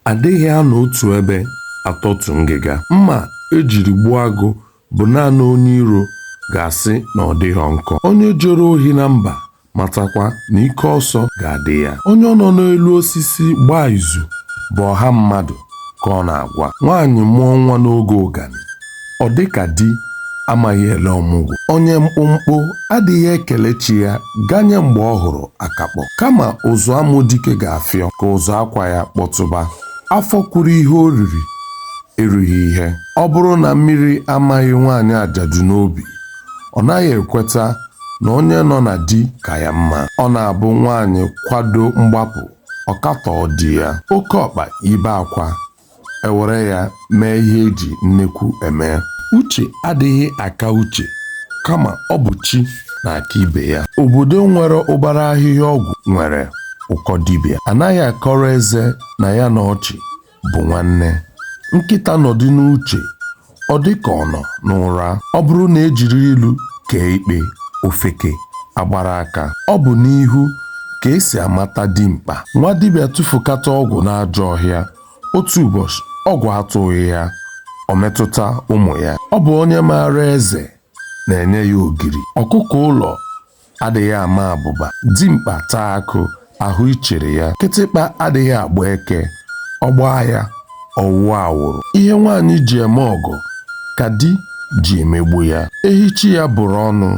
adịghị anọ otu ebe atọtụ ngịga mma ejiri gbuo agụ bụ naanị onye iro ga-asị na ọ dịghị nkọ onye jere ohi na mba matakwa na ike ọsọ ga-adị ya onye ọ nọ n'elu osisi gbaa izu bụ ọha mmadụ ka ọ na-agwa nwaanyị mụọ nwa n'oge ụganị ọ dị ka di amaghị ele ọmụgwọ onye mkpụmkpụ adịghị ekele chi ya ganye mgbe ọ hụrụ akakpọ kama ụzụ amụ dike ga-afịọ ka ụzụ akwa ya kpọtụba afọ kwuru ihe o riri erighị ihe ọ bụrụ na mmiri amaghị nwaanyị ajadu n'obi ọ naghị ekweta na onye nọ na di ka ya mma ọ na-abụ nwaanyị kwado mgbapụ ọ katọọ di ya oke ọkpa yibe akwa ewere ya mee ihe eji nnekwu eme uche adịghị aka uche kama ọ bụ chi na-aka ibe ya obodo nwere ụbara ahịhịa ọgwụ nwere ụkọ dibịa anaghị akọrọ eze na ya na ọchị bụ nwanne nkịta nọdị n'uche ọ dị ka ọ nọ n'ụra ọ bụrụ na ejiri ilu kee ikpe ofeke agbara aka ọ bụ n'ihu ka esi amata dimkpa nwa dibịa tụfukata ọgwụ n'ajọ ọhịa otu ụbọchị ọgwụ atụghị ya ọ metụta ụmụ ya ọ bụ onye maara eze na-enye ya ogiri ọkụkọ ụlọ adịghị ama abụba dimkpa taa akụ ahụ ichere ya kịtịkpa adịghị agba eke ọ gbaa ya ọ wụọ awụrụ ihe nwaanyị ji eme ọgụ ka di ji emegbu ya ehi chi ya bụrụ ọnụ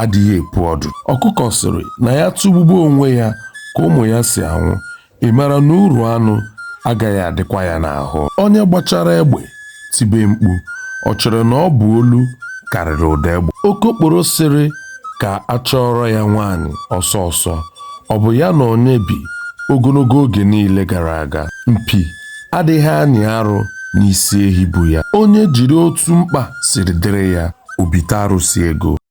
adịghị epu ọdụ ọkụkọ sịrị na ya tụgbube onwe ya ka ụmụ ya si anwụ ị mara na uru anụ agaghị adịkwa ya n'ahụ onye gbachara egbe tibe mkpu ọ chere na ọ bụ olu karịrị ụda egbe okokporo sịrị ka a chọọrọ ya nwaanyị ọsọ ọsọ ọ bụ ya na onye bi ogologo oge niile gara aga mpi adịghị anyị arụ n'isi ehi bu ya onye jiri otu mkpa siri dịrị ya o bite arụsị ego